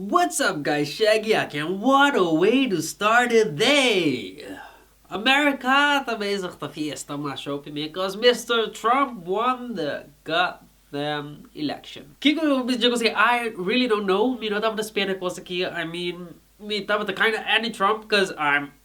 What's up guys Shaggy aki and what a way to start the day! America ta bezig ta fiesta mas show ke mi cos Mister Trump won the god damn election. Kiko yo mi djego si I really don't know mi no tabata spera e cos aki I mean mi tabata kinda anti Trump cos I'm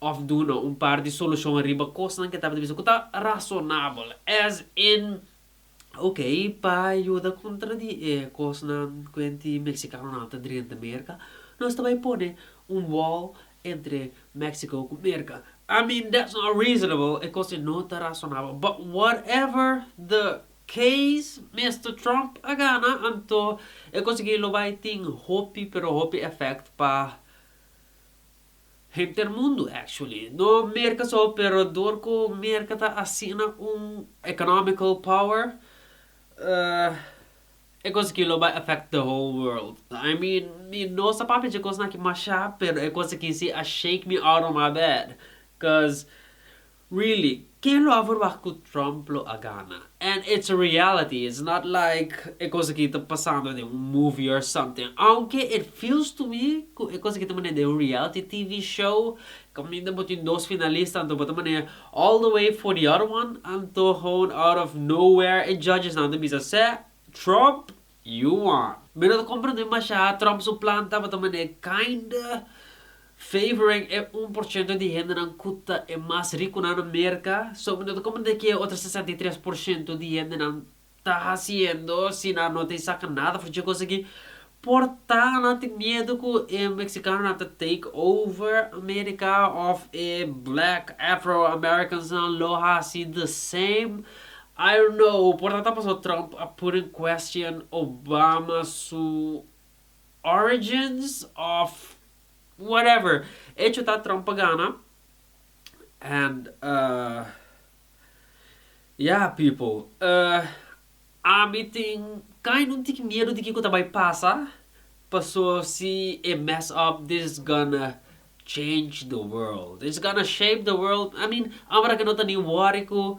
òf duna un par di solushon riba kosnan ke tabata bisa ku ta rasonabel, as in, ok, pa yuda kontra di e kosnan kuenti meksikanonan tabata drenta Merka, nos ta bai pone un wòl entre Mexico ku Merka. I mean, that's not reasonable, e kos ei no ta rasonabel. But whatever the case, Mister Trump a gana, anto e kos aki lo bai tin hopi, pero hopi effect pa. Henter mundu actually, no Merka so pero dor ku Merka ta asina un economical power e kos aki lo bai affect the whole world. I mean mi no sa papia dje kosnan aki masha pero e kos aki si a shake mi out of my bed cuz Really, ken lo a verwah cu Trump lo a gana? And it's a reality, it's not like e cos aki ta pasando den un movie or something, aunke it feels to me cu e cos aki ta manera den un reality TV show, caminda bo tin dos finalista anto bo ta manera all the way for the other one, anto gewoon out of nowhere e judges nan ta bisa seh, Trump! Yuma. Mi no ta komprende mashá Trump su plan tabata manera kinda favoring e un por shento di hendenan ku ta e mas rikunan na Merka. So mi no ta komprende ke e otro sesenta i tres por shento di hendenan ta hasiendo si nan no ta e saka nada for dje kos aki. Por ta nan tin miedu ku e meksikanonan ta take over Amerika òf e black afro-amerikansnan lo hasi the same? I don't know, por ta ta paso Trump a put in question Obama su origins of whatever. Echo ta Trump a gana and uh yeah people uh ami tin kind un tiki miedo di kiko ta bai pasa paso si e mess up this is gonna change the world, it's gonna shape the world, I mean abarake no ta ni worry ku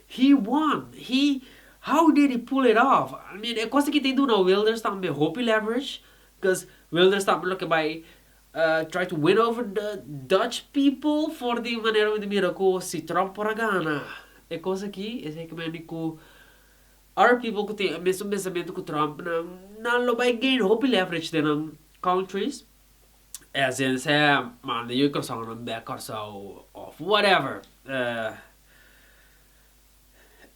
He won, he, how did he pull it off? I mean, e cosa ki ta e duna Wilders tambe hopi leverage, cuz Wilders tambe lo ke bai try to win over the Dutch people for di manera mi ta mira ku si Trump por a gana e cosa aki, esei ke mende ku other people ku tin e mesun pensamentu ku Trump nan, nan lo bai gain hopi leverage den nan countries, e hasienda esei a manda yu e croisonnan bek Kòrsou of whatever.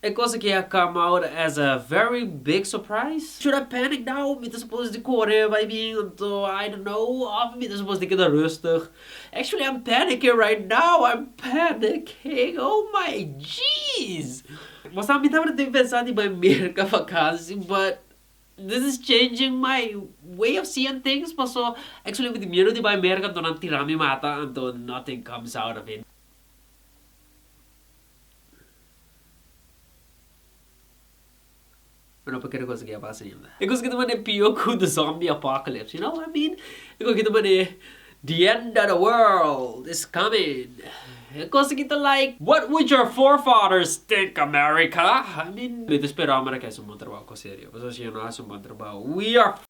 E cosa ke a come out as a very big surprise? Should I panic now? Mi ta suppose di kore bai bin anto I don't know of mi ta suppose di keda rustig? Actually I'm panicking right now, I'm panicking oh my geez! Bo sa mi tabata tin pensa di bai Merka vakansi but this is changing my way of seeing things paso actually mi tin miedo di bai Merka anto nan tira mi mata anto nothing comes out of it. Pero no pa kere cosa ki a pasa ainda. E cosa ki ta manda e pio ku the zombie apocalypse. You know what I mean? E cosa ki ta manda e The end of the world is coming. E cosa ki ta like. What would your forefathers think, America? I mean, mi ta spera America hasi un bon trabou, cosa serio. Pasobra si ellos no hasi un bon trabou, we are f***ed.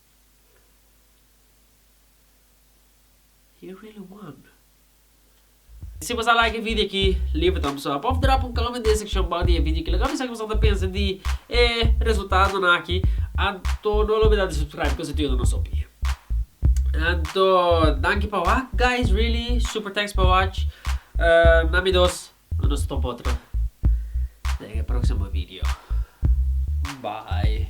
He really won. Si bo sa like e video aki, libra tambe so. Por drop un comment den e seccion bou di e video aki. Laga mi sa kico bo ta pensa di e resultadonan aki. Anto no olbida di subscribe cuz e ta yud'e nos hopi. Anto danki pa wak guys really super thanks pa watch. Na mi dos no nos ta botro den e proximo video. Bye.